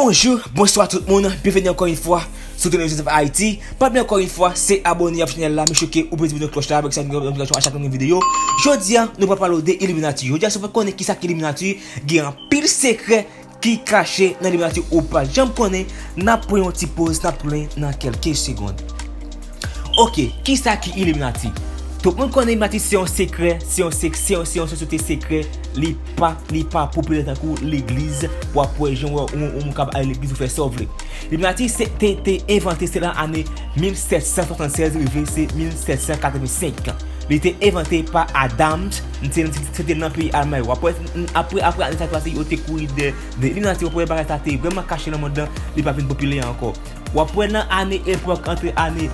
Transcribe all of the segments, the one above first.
Bonjou, bonswa tout moun, byenveni ankò yon fwa sou Tonel Joseph Haïti Pa bli ankò yon fwa, se abone avèk chanèl la, men chou ke ou pwede vini klòch la avèk sa yon notifikasyon a chak yon videyo Jodi a, nou pral pale ou de Illuminati Jodi a, si ou pa konnen ki sa ki Illuminati, gen anpil sekrè ki kache nan liberati ou pa janm konnen nap pran yon ti poz nap tounen nan kelke segond ok kisa ki iliminati tout moun konnen iliminati se yon sekrè se yon sek se yon se yon sosyete sekrè li pa li pa popilè tankou legliz wap wè jan wè yon moun kap ale legliz ou fè sa ou vle iliminati se te te envante se lan ane 1776 rive se 1785 li te envante pa adams se te nan peyi almay wap wè Apre ane sa pase yo te kouri dè Eliminati wap wè bagay sa te vreman kache nan mond lan li pa vin popilè ankò. Wap wè nan ane epòk antre ane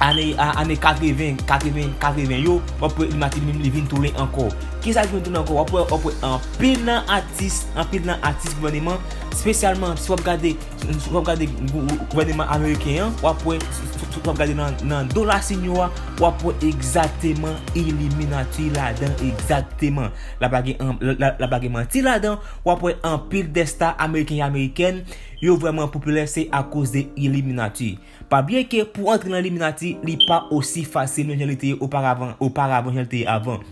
ane 80 80 80 yo wap wè Eliminati li menm li vin tounen ankò. Kisa ki vin tounen ankò wap wè wap wè anpil nan atis anpil nan atis gouveneman spesyalman si wap gade Si wap gade gouvèneman ameriken an, wap wè, si wap gade nan dola sin yo a, wap wè egzateman iliminati ladan egzateman. La pa gen, la pa gen manti ladan, wap wè anpil dè sta ameriken e amerikèn, yo vrèman popilè se akoz de iliminati. Pa bliye ke pou antre nan iliminati, li pa osi fasil menm jan li te ye oparavan, oparavan jan li te ye avan.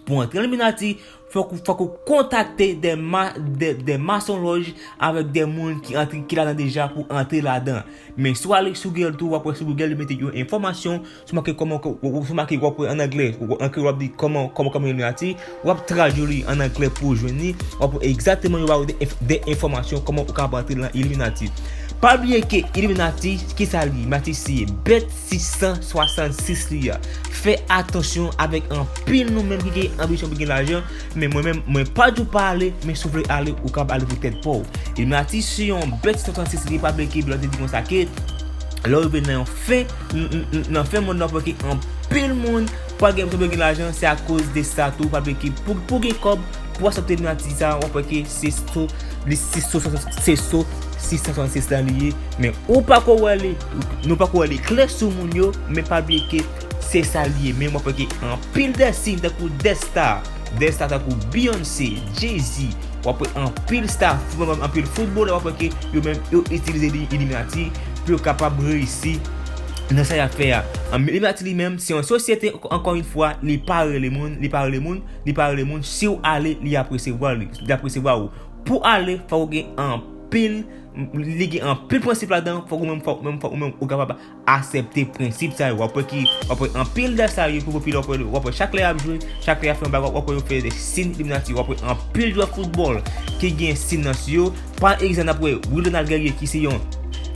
Pou antre Illuminati, fòk ou fòk ou kontakte de ma de de masonlòj avèk de moun ki antre ki ladan deja pou antre ladan. Men si w ale sou Google tou, w ap wè sou Google yo mete yon enfòmasyon, sou make kòman ke w sou make w ap wè an anglè, an kreyòl w ap di kòman kòman kòman Illuminati, w ap tradui li an anglè pou w jwenn li, w ap wè egzakteman yo ba ou de enfòmasyon kòman ou kapab antre lan Illuminati. Pa bliye ke Illuminati, kisa li? Illuminati se bèt 666 li a. Fè atansyon avèk anpil nou menm ki gen anbisyon pou gen lajan, men mwen menm mwen pa di w pa ale, men si w vle ale ou kab ale pou tèt pa w. Illuminati se yon bèt 666 li pa vle ke blan te di konsa ke lè w rive nan yon fen nan fen mond nan wap wè ke anpil moun pa gen anbisyon pou yo gen lajan se akoz de sa tou pa vle ke pou w gen kòb pou w asepte illuminati sa wap wè ke se so se so 666 la li ye men ou pako wè li. Nou pako wè li klè sou moun yo men pa bliye ke se sa li ye men wap wè gen anpil de siy tankou de star de star tankou Beyoncé, Jay-Z wap wè anpil star anpil footballè wap wè ke yo menm yo itilize illuminati pou yo kapab reyisi nan sa yap fè a illuminati li menm se yon sosyete ankò yon fwa li pa rele moun li pa rele moun li pa rele moun siw ale li ap resevwa li ap resevwa ou pou ale fòk ou gen anpil Li gen anpil prensip ladan, fòk ou menm fòk menm fòk ou menm ou kapab asèpte prensip sa yo. Wap wè ki wap wè anpil dèf sa yo ki popilè wap wè wap wè chak lè yap jwe, chak lè yap fè yon bagay wap wè yo fè de sin iliminati. Wap wè anpil jwè foutbòl ki gen sin nan sou yo. Pa egzanp nap wè Wi Donald Guerrier ki se yon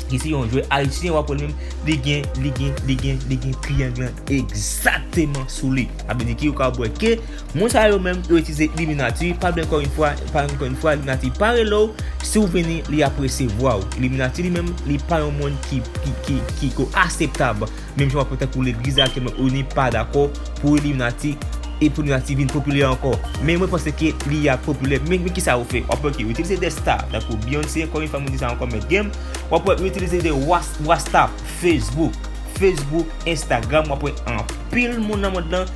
ki se yon jwè ayisyen wap wè li menm li gen li gen li gen li gen triyang lan egzateman sou li. Sa vle di ki ou kapab wè ke Moun sa yo menm yo itilize illuminati pa byen ankò yn fwa pa ankò yn fwa illuminati pa rele w si w vini li ap resevwa w illuminati li menm li pa yon moun ki ki ki ko aseptab menm jan w ap wè tankou legliz la aktyèlman oni pa dakò pou illuminati e pou illuminati vin popilè ankò men mwen panse ke li ap popilè men men kisa yo fè w ap wè ke yo itilize de sta tankou Beyoncé ankò yn fwa mwen di sa ankò mèt gem w ap wè yo itilize de wasta facebook facebook instagram w ap wè anpil. Anpil moun nan mond lan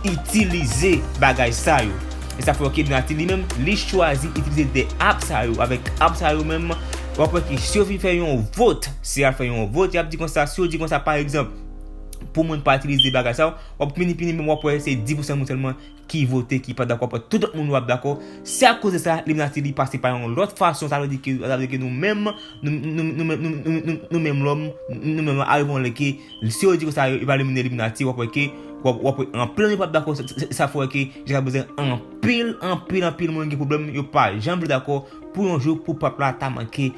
itilize bagay sa yo. E sa fè wè ke Donati li menm, li chwazi itilize 2 app sa yo. Avèk app sa yo menm, w ap wè ke si yo fin fè yon vot, si y al fè yon vot, y ap di konsa, si yo di konsa pa egzanp, pou moun pa itilize bagay sa yo, w ap vini fini menm w ap wè se 10 pousan moun sèlman ki vote ki pa dakò aprè tout lòt moun yo ap dakò si a koz de sa li menase li pase pa yon lòt fason sa vle di ke sa vle di ke nou menm nou menm lòm nou menm lòm arive yon lè ke si yo di konsa yo va elimine illuminati wap wè ke wap wè anpil moun pap dakò sa fè wè ke jiska prezan anpil anpil anpil moun gen pwoblèm yo pa janm vle dakò pou yon jou pou pèp la ta manke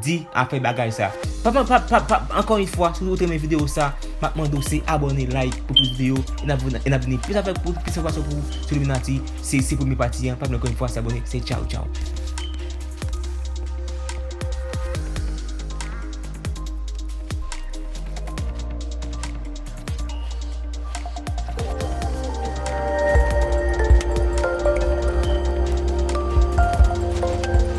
di aprè bagay sa. Ankò yn fwa si ou t renmen video sa map mande w se abone like pou plis video e nap vini plis avèk plis enfòmasyon pou ou sou illuminati se se premye pati an pa bliye ankò yn fwa se abone se tchaw tchaw.